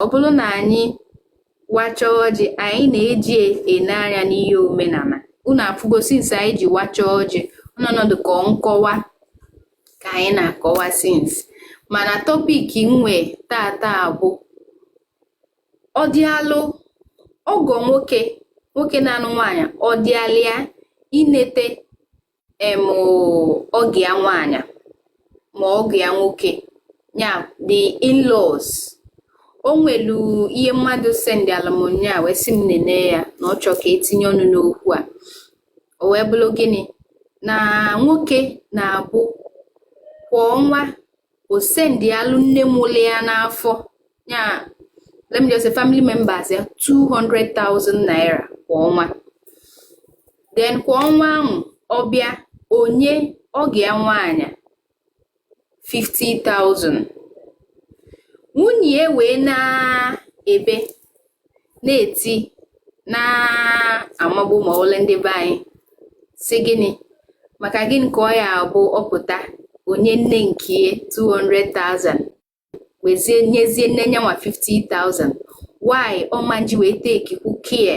ọ bụrụ na anyị wachaa ọjị anyị na-eji ene anya n'ihe omenala unu afụgo since anyị ji wachaa ọjị ọnọdụ ka nkọwa ka anyị na-akọwa since mana topic nwe tata bụ ọ dịalụ ọgọ nwoke nwoke na-anụ nwaanyị ọ dịalị ya inete em ọgọ ya nwaanyị ma ọgọ ya nwoke ya the in-laws o nwelu ihe mmadụ sendịalụ mụ nya wee sị m nene ya na ọ chọọ ka e tinye ọnụ n'okwu a o wee bụrụ gịnị na nwoke na-abụ kwa ọnwa o sendialụ nne mụlụ ya n'afọ ya let me just say family members ya 200,000 naira kwa ọnwa then kwa ọnwa ahụ ọ bịa o nye ọgọ ya nwaanyị 50,000 nwunye wee na-ebe na-eti na-amagbu ma ole ndị be anyị si gịnị maka gịnị ka ọ ya abụ ọ pụta o nye nne nke ya 200,000 wezie nyezie nne nyanwa 50,000 why ọ ma na-eji wee takekwu care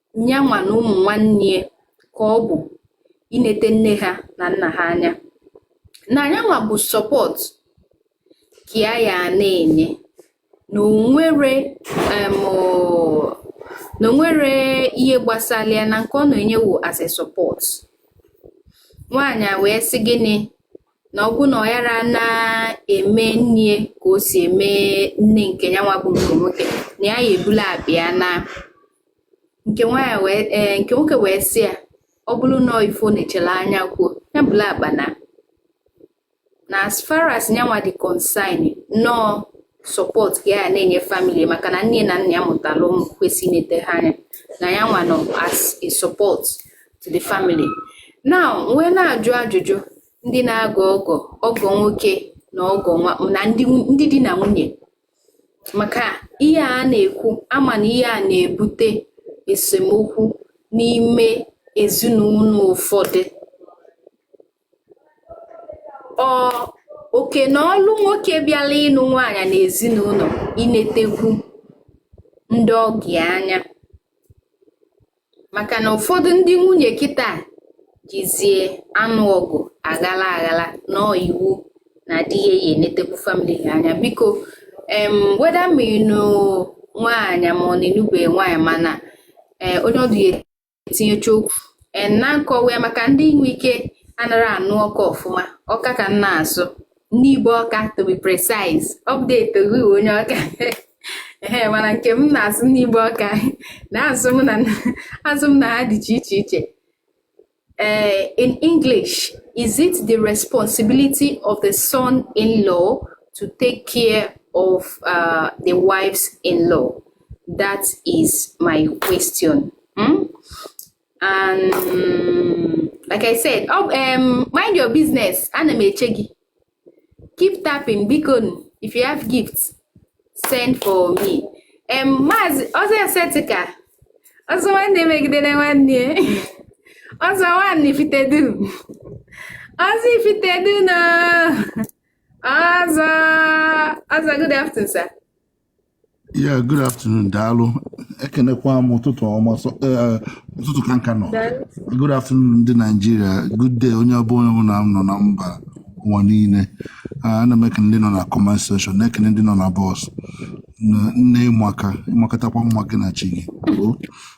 nyanwa na ụmụ nwanne ya ka ọ bụ inete nne ha na nna ha anya na nyanwa bụ support ka ya ya na-enye na o nwere em, ọ- na o nwere ihe gbasara ya na nke ọ na-enye wo as a support nwaanyị a wee sị gịnị na ọ bụ na ọ yara na-eme nne ya ka o si eme nne nke nyanwa bụ nke nwoke na ya ya ebula akpa ya na nke eh, nwoke wee sị ya ọ bụrụ na ife ọ na-echere anya kwuo ya bula akpa na na as far as nyanwa dị concern na ọ support ka ya na-enye family maka na nne na nna ya mụtara ụmụ kwesị inete ha anya na ya nwa nọ as a support to the family now wee na-ajụ ajụjụ ndị na-agọ ọgọ ọgọ nwoke na ọgọ nwa na ndị di na nwunye maka ihe a na-ekwu a ma na ihe a na-ebute esemokwu n'ime ezinụlọ ụfọdụ ọ oke na ọlụ nwoke bịala ịnụ nwaanyị na ezinụlọ inetekwu ndị ọgọ ya anya maka na ụfọdụ ndị nwunye kịta jizie anụ ọgụ aghala aghala na ọ iwu na di ya ya enetekwu family ha anya biko em whether ma ị nụ nwaanyị ma ọ na ị nụbe nwaanyị mana e, onye ọdụ ya etinyecha okwu e, na nkọwa ya maka ndị inwe ike anara anụ ọka ọfụma ọka ka m na-asụ n'Igbo Ọka to be precise update gị onye Ọka ee mana nke m na-asụ n'Igbo Ọka na azụ m na azụ m na ha dị iche iche iche ee in English is it the responsibility of the son-in-law to take care of uh, the wives-in-law that is my question hmm? and um, like I said oh, um, mind your business ana m eche gị keep tapping bikonu if you have gifts send for me um, maazị ọzọ esetika ọzọ nwanne megidere nwanne ọzọ nwanne Ifitedu ọzọ Ifitedunu ọzọ ọzọ good afternoon sir Yeah, good afternoon, Daalụ. Ekenekwa m ụtụtụ ọma sọ- eh, ụtụtụ ka m ka nọ. Good afternoon ndị Nigeria. Good day onye ọbụ onye ọbụla m nọ na mba ụwa niile. Ah, Ana m ekene ndị nọ na comment section, na-ekene ndị nọ na box. Na- Nne ị maka, ị makatakwa mma gị na chi gị. Oo.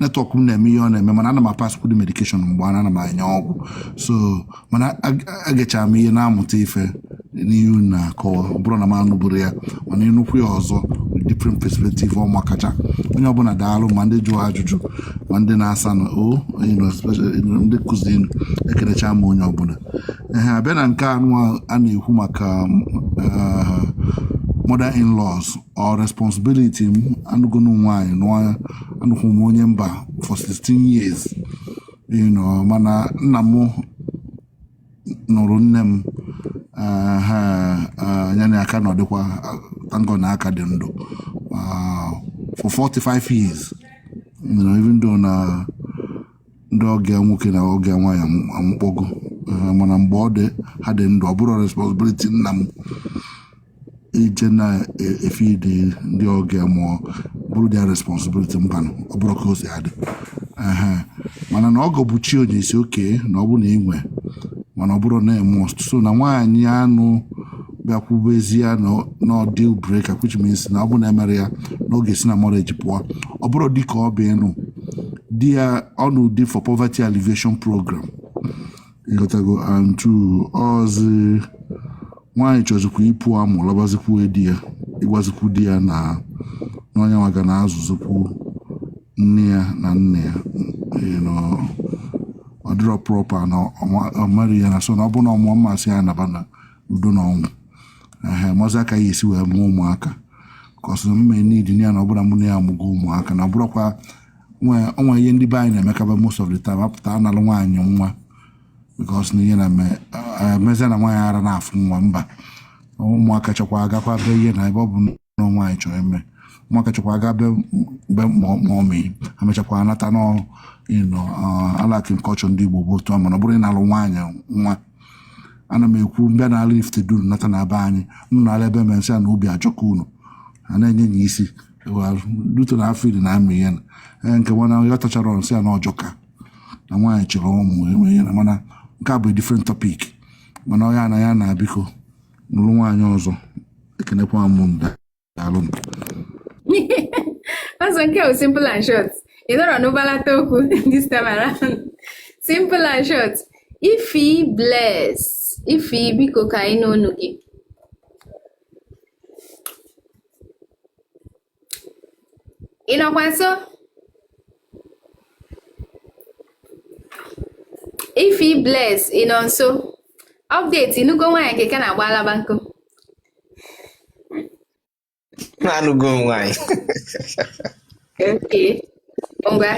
network m na-eme ihe ọ na-eme mana ana m apasskwudu medication mgbe ana ana m enye ọgwụ so mana eg- egechara m ihe na-amụta ife n'ihe unu na-akọwa ọ bụrọ na m anụburọ ya mana ịnụkwu ya ọzọ with different perspective ọ makacha onye ọbụla daalụ ma ndị jụrụ ajụjụ ma ndị na-asa na o you know, especially, you know, ndị kụziinụ ekenecha m onye ọbụla ehe a bịa na nke anụ a na-ekwu maka ah, mother in laws ọ responsibility m anụgonụ m nwaanyị nụọ anụkwu m onye mba for 16 years you know mana nna m nụrụ nne m ah, ha ah, ya na ya ka nọdịkwa thank God na ha ka dị ndụ ah, for 45 years you know, even though na ndị ọgọ ya nwoke na ọgọ ya nwaanyị anwụ- anwụkpọgo Eh, mana mgbe ọ dị ha dị ndụ ọ bụrọ responsibility nna m ije na-efeedi ndị ọgọ ya ma ọ bụrụ their responsibility mbanụ ọ bụrọ ka o si adị Ehe. mana na ọgọ bụ chi onye ị sị okay na ọ bụ na i nwee mana ọ bụrọ na must so na nwaanyị anụ bịa kwubezie na na ọ deal breaker which means na ọ bụ na emerọ ya na ọ ga-esi na marriage pụọ ọ bụrụ dịka ọ bụ ịnụ di ya ọ nụ di for poverty alleviation program ị ghọtago and two ọzi nwaanyị chọzikwu ịpụ amụ lọbazikwu di ya ịgwazikwu di ya na na nya nwa ga na-azụzikwu nna ya na nne ya you know, ọ dịrọ proper na ọ ma- ọ mara ya na so na ọ bụ na ọ mụwa m asị ya naba na udo na ọnwụ ehe mazi aka ya esi wee mụọ ụmụaka ka ọsọ mme nidi ya na ọbụla mụ na ya amụgo ụmụaka na ọbụrụkwa o nwe ihe ndị be anyị na-emekaba most of the time apụta analụ nwaanyị nwa because na ihe na emezi na nwaanyị ara na-afụ nwa mba ụmụaka chọkwa agakwa be ihe na ebe ọ bụ na nwaanyị chọrọ ime ụmụaka chọkwa aga be be mummy ha mechakwa anata n'ọrụ you know like in culture ndị igbo bụ otu a mana ọ bụrụ ị nalụ nwaanyị nwa ana m ekwu mbịa na ala ifte duru nata na be anyị nụ na ala ebe mere nsị a na obi ajọka unu a na-enye ya isi due to na afọ iri na amị ihe na ee nke mana ya tachara nsị a na ọjọka na nwaanyị chọrọ ụmụ enwe ihe na mana nke a bụ different topic mana ọ ya na ya na biko nụrụ nwaanyị ọzọ ekenekwa m daalụ m ọzọ nke bụ simple and short ị nọrọ n'ụbalata okwu this time around simple and short Ify Bless Ify biko ka anyị nụ onu gị ị nọkwa nso Ify Bless ị nọ nso update ị nụgo nwaanyị ka ị ka na-agba alaba nkụ na-anụgo nwaanyị okay ngwa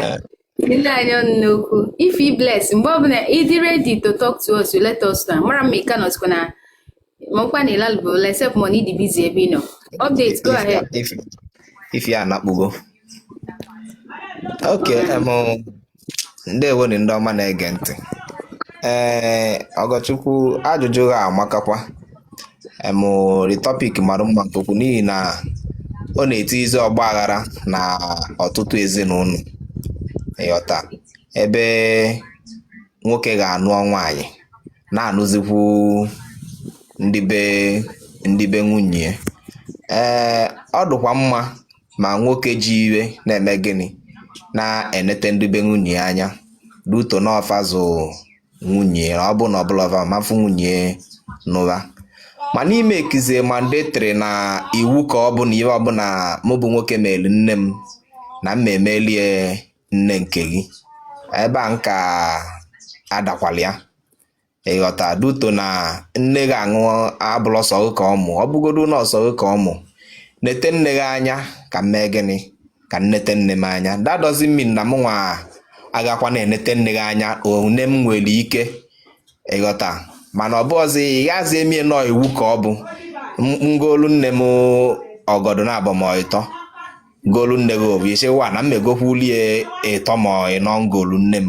Tinye anyị ọnụ n'okwu Ify Bless mgbe ọbụla ị dị ready to talk to us you let us know mara ma ị ka nọsikwa na mọkwa na ịlalụbụ except mọ na ị dị busy ebe ị nọ update go ahead If, if, Ify anakpugo. Ok, em, ndewo ni ndị ọma na-ege ntị. Ee, Ọgọchukwu ajụjụ gị amakakwa. em the topic mara mma nke ukwuu n'ihi na ọ na-etizi ọgba aghara na ọtụtụ ezinụlọ ịghọta ebe nwoke ga-anụ nwaanyị na-anụzikwu ndị be ndị be nwunye ya. ee ọ dịkwa mma ma nwoke ji ife na-eme gịnị na-enete ndị be nwunye ya anya due to na ọ fa zụ nwunye ọ bụ na ọ bụrọ va ọ ma-afụ nwunye nụba mana ị makezie mandatory na iwu ka ọ bụ na ihe ọbụla mụ bụ nwoke meelu nne m na m emelie nne nke gị ebe a nka adakwala ya ịghọta due to na nne gị aṅụ abụrọ sọ gị ka ọ mụ ọ bụgodu na ọ sọ gị ka ọ mụ nete nne gị anya ka m mee gịnị ka m nete nne m anya that doesn't mean na m nwa agakwa na-enete nne gị anya one m nwere ike ịghọta mana ọ bụghịzi ị gazi emie na ọ iwu ka ọ bụ m golu nne m ọgọdụ naabọ ma ọ ịtọ m golu nne gị ofu ị sịwa na m egokwulie ịtọ ma ọ ịnọ m golu nne m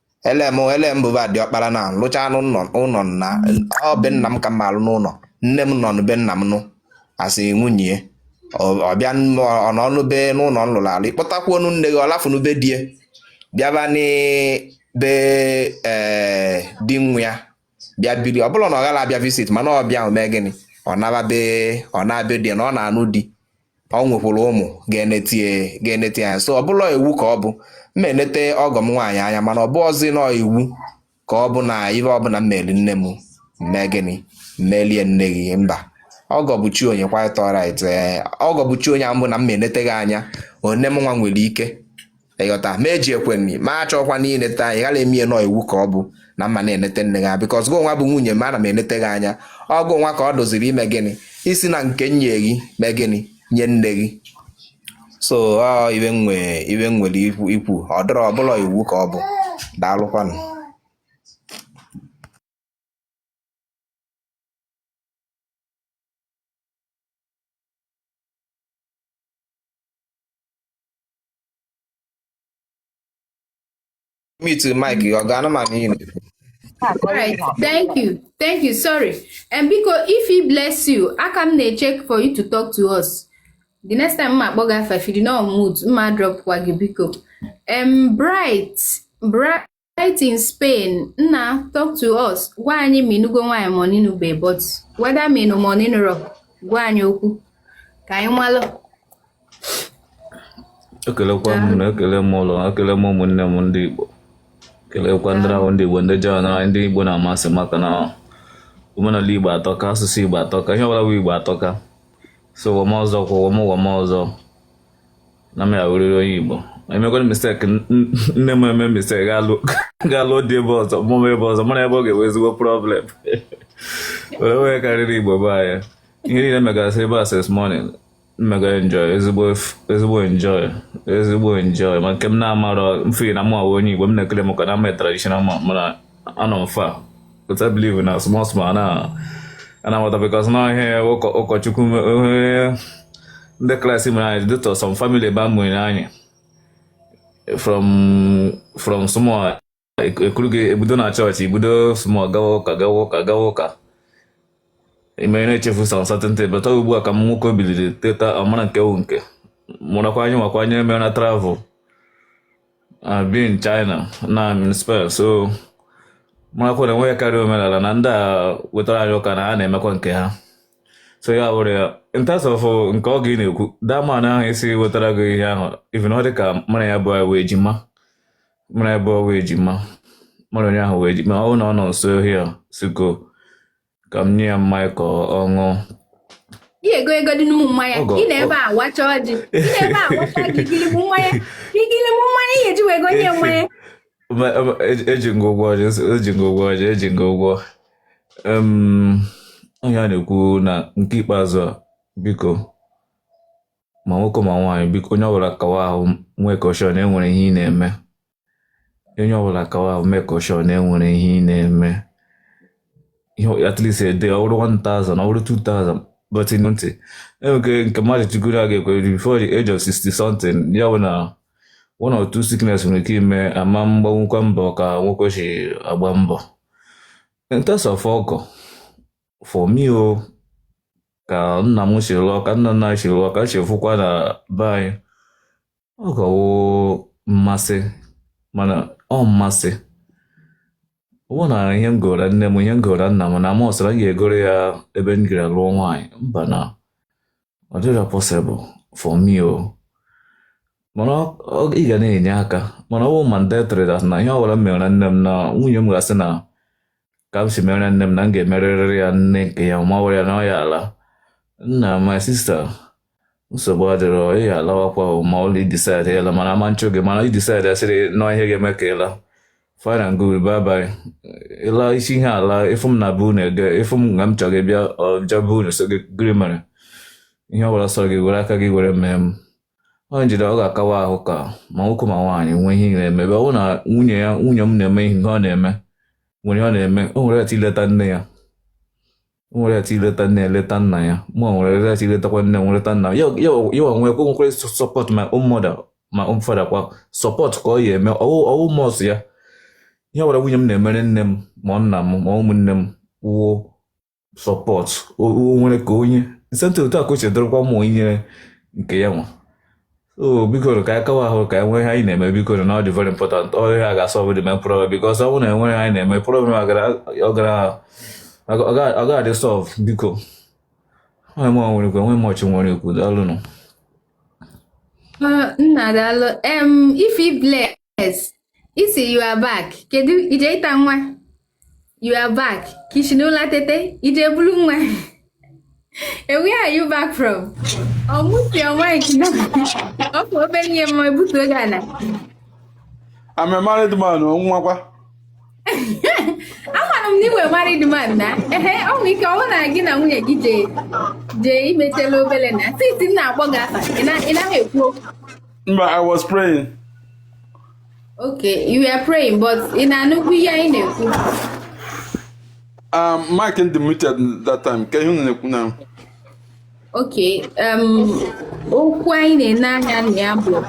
elem elem bụba diọkpara na alụcha m ụlọ na ọ be nna m ka m alụ n'ụlọ nne m nọ n'be nna m nụ asị nwunye ọ bịa ọ nọnụ be n'ụlọ m lụrụ alụ ị kpọtakwuonu nne gị ọ lafụnụ be di e bịaba n'be ee di nwa ya bịa biri ọ bụla na ọ gala abịa visit mana ọ bịa mee gịnị ọ naba be ọ na-abịa di na ọ na-anụ di o nwekwara ụmụ ga-enete ya anya so ọ bụla iwu ka ọ bụ m ma enete ọgọ m nwaanyị anya mana ọ bụrọzi na iwu ka ọ bụ na ife ọbụla m meli nne m mee gịnị melie nne gị mba ọgọ bụ chi onye quite alright ọgọ bụ chi onye bụ na m ma enete gị anya one mụnwa nwere ike ị ghọta ma eji ekwenyi ma achọkwa na inete anya gala eme na ọ iwu ka ọ bụ na m ma na-enete nne gị because gịnwa bụ nwunye m ana m enete gị anya ọ gịnwa ka ọ dịziri ime gịnị isi na nke enye gị mee gịnị nye nne gị so ọ ife nwe ife m nwere ikwu ikwu ọ dịrọ ọ bụla iwu ka ọ bụ daalụkwanụ mute mic gị ọ ga-anụ ma n'ihi na Alright, thank you. Thank you. Sorry. Em biko Ify bless you, aka m na-echeck for you to talk to us. The next time m ma akpọ gị afa if you did not mute, mụ adrop kwa gị biko. Um, Bright, Bright. Bright in Spain, Nna, talk to us. Gwa anyị ma ị nụgo nwaanyị ma ọ n'ị nụbe but whether ma ị nụ ma ọ n'ị nụrọ gwa anyị okwu ka anyị malụ. Ekelekwa m na ekele m ụlọ ekele m ụmụnne m ndị Igbo kelekwa ndị ahụ ndị Igbo ndị join ndị Igbo na-amasị maka na omenala Igbo atọka asụsụ Igbo atọka ihe ọbụla bụ Igbo atọka so ụwa m ọzọ kwa ụwa m ụwa m ọzọ na m ya-awụrịrị onye Igbo emekwana mistake nne m eme mistake ga-alụ di ebe ọzọ mụọ m ebe ọzọ mana ebe ọ ga-enwe ezigbo problem o nwerọ ebe karịrị Igbo be anyị ihe niile megasị ebe a since morning mmega enjoy ezigbo enjoy ezigbo enjoy ma nke m na-amarọ mfe na mụ wụ onye Igbo m na-ekele m ka na am a traditional ma anọ m far but I believe na small small a na a na-amata because na ihe ụkọchukwu ndị Christ mere anyị due to some family ebe a mụrụ anyị from from small e kuru gị ebido na church i bido small gawa ụka gawa ụka gawa ụka i mere na-echefu some certain things but ugbu a ka ụmụ nwoke biliri teta ọ mara nke wu nke mụrakwa anyị nwakwa anyị emere na travel I've been in China, now I'm in Spain, so marakwa na nwekarịa omenala na ndị a wetara anyị ụka na ha na-emekwa nke ha so ya were ya in terms of uh, nke ọgọ ị na-ekwu that man ahụ ị sị wetara gị ihe ahụ even ọ dị ka mara ya bụ wee ejima mara ya bụ wee ejima mara onye ahụ wee ejima ọ na ọ nọ nso ohia siko ka m nye ya mmanya ka ọ ọ ṅụọ ị ego ego dị n'ụmụ mmanya Ọgọ, ị na-ebe a wacha ọjị ị na-ebe a wacha ọjị igiligbu mmanya igiligbu mmanya ihe eji wee go nye mmanya Ma- ma- eji eji m gị ụgwọ ọjị nsị- eji m gị ụgwọ ọjị eji m gị ụgwọ Em, ihe a na-ekwu na nke ikpeazụ a biko ma nwoke ma nwaanyị biko onye ọbụla kawa ahụ make sure na enwere ihe ị na-eme onye ọbụla kawa make sure na enwere ihe ị na-eme ihe at least a day ọ bụrụ 1000 ọ bụrụ 2000 but in ntị enweke nke mmadụ chigoro a ga-ekwe before the age of 60 something ya bụ na one or two sickness nwere ike ime ama m gbawakwa mbọ ka nwoke si agba mbọ in terms of ọgọ for me o oh, ka nna m si lụọ ka nna nna si lụọ ka si fụkwa na be anyị ọgọ wụ mmasị mana ọ mmasị bụ na ihe m gora nne m ihe m gora nna m na must na m ga-egoro ya ebe m gara lụọ nwaanyị mba na ọ dịrọ possible for me o oh. mana ị ga na-enye aka mana ọ bụ mandatory that na ihe ọbụla m mere nne m na nwunye m ga-asị na ka m si mere nne m na m ga-emerịrị ya nne nke ya ma ọ ya na ọ ya ala nna my sister nsogbu adịrọ ị ya alawakwa ma ọ bụrụ ị decide ịla mana ama m achụ gị mana ị decide asị na ọ ihe ga-eme ka ịla fine and good bye bye ịla isi ihe ala ị fụ m na be unu ege ịfụ m nga m chọrọ gị bịa bịa be unu so gị gịrị mere ihe ọbụla sọrọ gị were aka gị were mee m ọ njide ọ ga-akawa ahụ ka ma nwoke ma nwaanyị nwee ihe na-eme ebe ọ bụrụ na nwunye ya nwunye m na-eme ihe ọ na-eme nwere ọ na-eme o nwere right ileta nne ya nwere right ileta nne eleta nna ya mụ nwere right iletakwa nne wee leta nna ya ya onwe ekwe nwekwere support my own mother my own father kwa support ka ọ ya eme ọ wụ must ya ihe ọbụla nwunye m na-emere nne m ma nna m ma ụmụnne m wụ support nwere ka onye nsentị otu a ka o chedorokwa mụ inyere nke ya nwa so bikonụ ka anyị kawa ahụ ka e nwee ihe anyị na-eme bikonụ na ọ dị very important ọ ihe a ga-asolve the main problem because ọ bụrụ na enwere ihe anyị na-eme problem ọ gara ọ gara- ọ ga- ọ ga-adị solve biko ọ ihe mụ nwere ikwu enwe much m nwere ikwu daalụnụ Ọ, nna daalụ em ife ible Bless ị sị you are back kedu ije ịta nwa you are back ka i shi n'ụla tete ije bulu nwa and where are you back from unmute your mic na ọ bụ obere ihe mma ebutu oge a na I'm a married man, ọnwụnwakwa. amara m na ị wụ married man na ehe ọ nwere ike ọ wụrụ na gị na nwunye gị jee jee imetela obere na siti m na-akpọ gị afa ị na- ị naghị ekwu okwu Mba, I was praying. Okay, you were praying, but ị na-anụkwu ihe anyị na-ekwu. Um, mic dị muted that time, kee ihe unu na-ekwu nụ. Okay, um, okwu anyị na-ene anya na ya bụ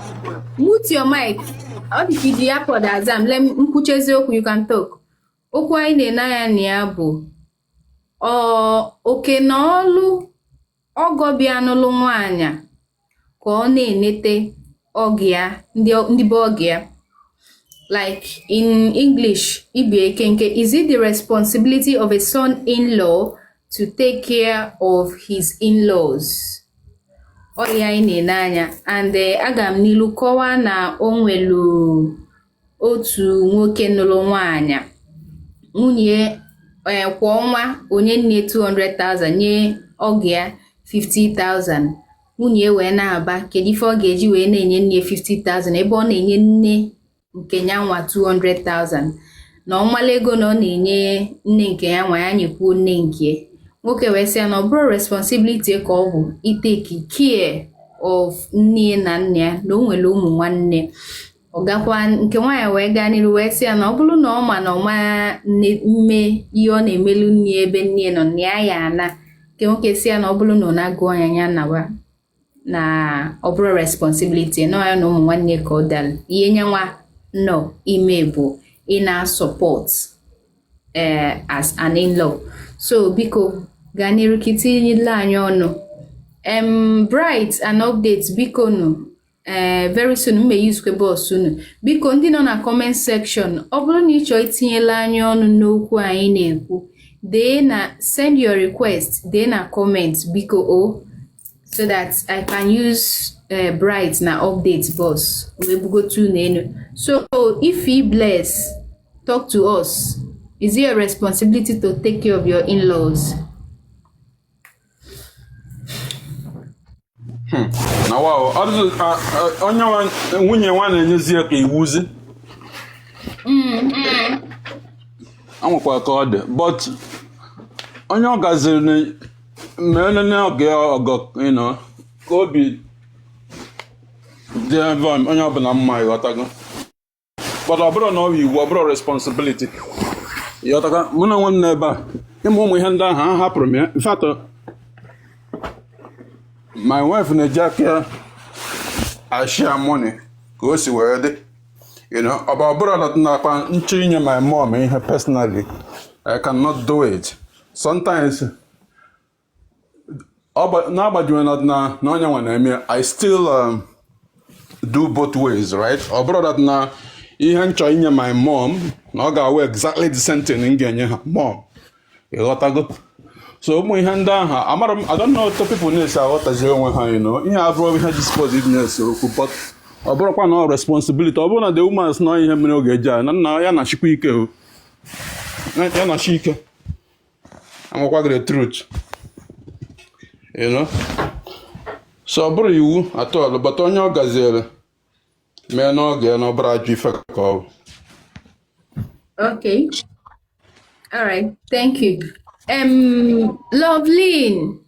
mute your mic. Ọ dị ka i ji earpod aza m, let m kwuchezie okwu you can talk. Okwu anyị na-ene anya na ya bụ oke na ọlụ ọgọ bịa nụlụ nwaanyị ka ọ na-enete ọgụ ya ndị be ọgọ ya like in english ibi ekenke is it the responsibility of a son-in-law to take care of his in-laws ọ ya anyị na-ene anya and eh, aga m n'ilu kọwaa na o nwelu otu nwoke nụrụ nwaanyị nwunye eh, kwa ọnwa o nye nne 200,000 nye ọgọ ya 50,000 nwunye wee na-aba kedu ife ọ ga-eji wee na-enye nne 50,000 ebe ọ na-enye nne nke ya nwa 200,000 na ọmala ego na ọ na-enye nne nke ya nwa ya nyekwuo nne nke nwoke wee sị ya na ọ bụrọ responsibility ya ka ọ bụ ịtake care of nne na nna ya na o nwere ụmụ nwanne ọ gakwa nke nwaanyị wee gaa n'iru wee sị ya na ọ bụrụ na ọ ma na ọ ma-eme ihe ọ na-emelu nne ebe nne nọ na ya ya ana nke nwoke sị ya na ọ bụrụ na ọ na-agụ anya ya nawa na ọ bụrọ responsibility na ya na ụmụ nwanne ka ọ dara ihe nyanwa na-eme bụ ịna-asupport eh, as an in-law so biko gaa n'iru ka itinyela anyị ọnụ em bright and update biko nụ ee eh, very soon m me-use kwe box unu biko ndị nọ na comment section ọ bụrụ na ị chọọ itinyela anyị ọnụ n'okwu anyị na-ekwu dee na send your request dee na comment biko o oh, so that i can use eh, bright na update box wee bugotu unu enu so Ify Bless talk to us is it your responsibility to take care of your in-laws Hmm. na wao onye nwunye nwa na-enyezi ya ka iwuzi e nwekwa ka ọ dị but onye ọ gaziri na mee nne ọgọ ya ọgọ you know ka obi dịbe onye ọbụla mma ịghọtago but ọ bụrọ na ọ bụ iwu ọ bụrọ responsibility ịghọtakwa mụ na onwe m n'ebe a ịmụ ụmụ ihe ndị ahụ ahapụrụ m ya in fact my wife na-eji aka ya a share money ka o si wee dị you know ọ bụ ọ bụrọ na nakwa m chọọ inye my mom ihe personally I cannot do it sometimes n'agbajuwe na na onye nwa na-eme I still um, do both ways right ọ bụrọ that na ihe m chọrọ inye my mom na ọ ga-awụ exactly the same thing m ga-enye her mom ịghọtago so ụmụ ihe ndị ahụ amarọ m I don't know how people na-esi aghọtazi onwe ha you know ihe abụrọ ihe ji suppose ịbụ na-ese okwu but ọ bụrọkwa na ọ responsibility ọ bụrụ na the woman si na ihe mere oge eji a na nna ya na-achịkwa ike ya na-achị ike Ana m agwa gị the truth. You know? So ọ bụrọ iwu at all but onye ọ gaziere mee n'oge ya na ọ bụrọ ajọ ife ka ọ bụ. Okay. All right. Thank you. Um, Loveline.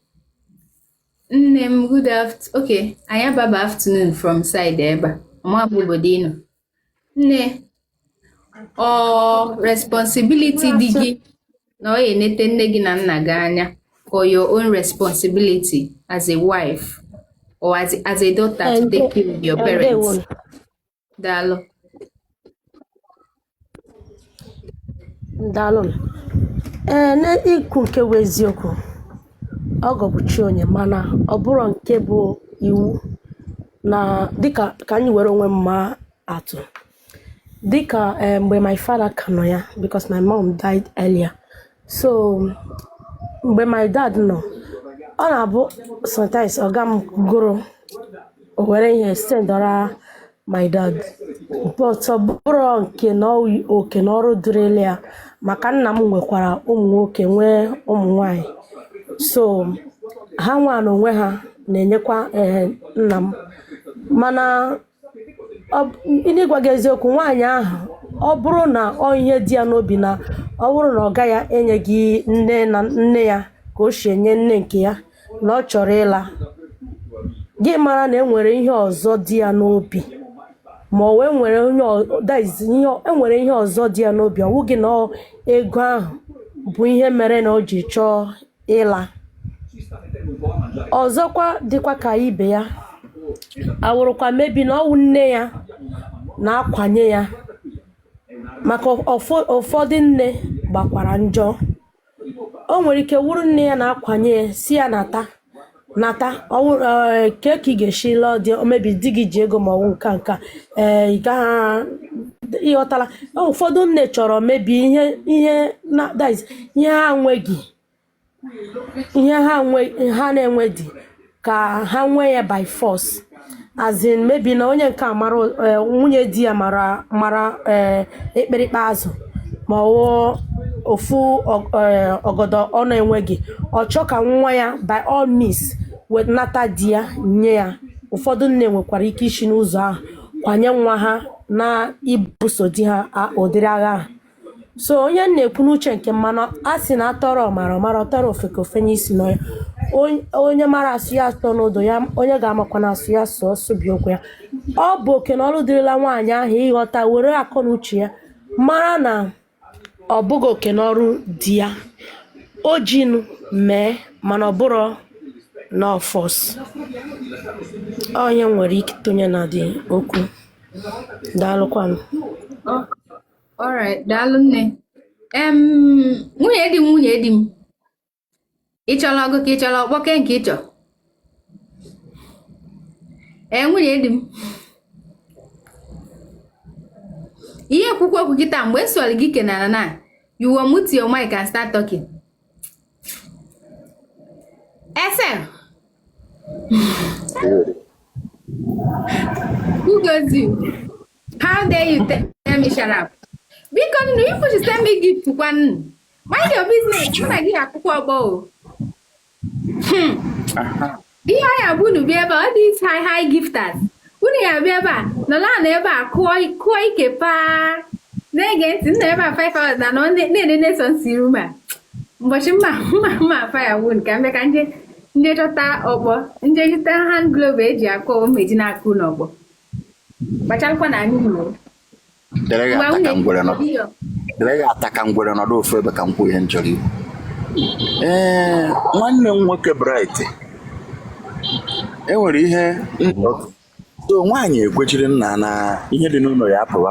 Nne m, good afternoon. Okay. Anyị ababa afternoon from side ebe a. Ama m obodo ịnọ. nne ọ responsibility di gị na ọ ya-enete nne gị na nna gị anya or your own responsibility as a wife or as, as a daughter to take care of your parents daalụ daalụ ee n'ikwu nke bụ eziokwu ọgọ bụ chi onye mana ọ bụrọ nke bụ iwu na dịka ka anyị were onwe m maa atụ dịka eh, mgbe my father ka nọ ya because my mom died earlier so mgbe my dad nọ ọ na-abụ sometimes ọga m gụrụ o were ihe sendara my dad but ọ bụrọ nke na ọ- oke na ọrụ dịrịlị ya maka nna m nwekwara ụmụ nwoke nwee ụmụ nwanyị so ha nwa na onwe ha na-enyekwa eh, nna m mana ọ bụ- n'ịgwa gị eziokwu nwaanyị ahụ ọ bụrụ na ọ ihe dị ya n'obi na ọ bụrụ na ọga ya enyeghị nne na nne ya ka o si enye nne nke ya na ọ chọrọ ịla gị mara na enwere ihe ọzọ dị ya n'obi ma ọ wee nwere onye ọ- that is, ihe ọ- enwere ihe ọzọ dị ya n'obi ọ wụghị na ọ- ego ahụ bụ ihe mere na o ji chọọ ịla ọzọkwa dịkwa ka ibe ya awụrụkwa maybe na ọwụ nne ya na-akwanye ya maka ụfọ- ụfọdụ nne gbakwara njọ o nwere ike wụrụ nne ya na-akwanye ya sị ya nata nata ọwụ ee, kee ka ị ga-esi lụọ di maybe di gị ji ego ma ọwụ nka nka ee ị gaghị ịghọtala ụfọdụ nne chọrọ maybe ihe ihe na that is, ihe ha nweghị ihe ha nwe ha na-enwe di ka ha nwee ya by force as in maybe na onye nke a mara eh, nwunye di ya mara mara eh, akpịrịkpa azụ ma ọ wụ ofu ọ- eh, ọgọdọ ọ na-enweghị ọ chọọ ka nwa ya by all means wee nata di ya nye ya ụfọdụ nne nwekwara ike isi n'ụzọ ahụ kwanye nwa ha na ibuso di ha a- ụdịrị agha ahụ so ọ ihe m na-ekwu n'uche nke m mana a sị na a tụọrọ ọmara ọ mara a tụọrọ ofeke o fenye isi n'ọhịa Onye- onye mara asụ ya asụọ n'odo ya onye ga-amakwa na asụ ya sụọ sụbie ụkwụ ya ọ bụ oke na ọrụ dịrịla nwaanyị ahụ ịghọta were akọ na uche ya mara na ọ bụghị oke na ọrụ di ya o jinu mee mana ọ bụrọ na force ọ ihe m nwere ike tụnye n'ụdị okwu daalụkwanụ Alright, daalụ nne. Em, nwunye di m nwunye di m ị chọrọ ọgụ ka ị chọrọ ọkpọ kee nke ị chọ ee nwunye di m ihe ekwukwu okwu gị taa mgbe ọ sọrọ gị kenara na you will mute your mic and start talking ese who goes you How dare you tell me shut up? Biko nnu ifu ji send me gift kwa nnu. Mind your business, mụ na gị akụkọọ ọkpọ o. Hmm. Ihe anyị abụ unu bịa ebe a, ọ dị isi high high gifters. Unu ya bịa ebe a, nọla na ebe a kụọ kụọ ike paa. Na-ege ntị nna ebe a 5 hours na nọ na-enene sọ nsi room a. Ụbọchị mma mma mma faya wun ka mbe ka m je m je chọta ọkpọ m je chọta hand glove eji akụ ụmụ eji na-akụ n'ọkpọ. kpacharakwa na anyị nwere dere ya ata ka ngwere nọdụ ofu ebe ka m kwuo ihe m chọrọ ikwu ee nwanne m nwoke bright enwere ihe so nwaanyị ekwechiri nna na ihe dị n'ụlọ ya apụwa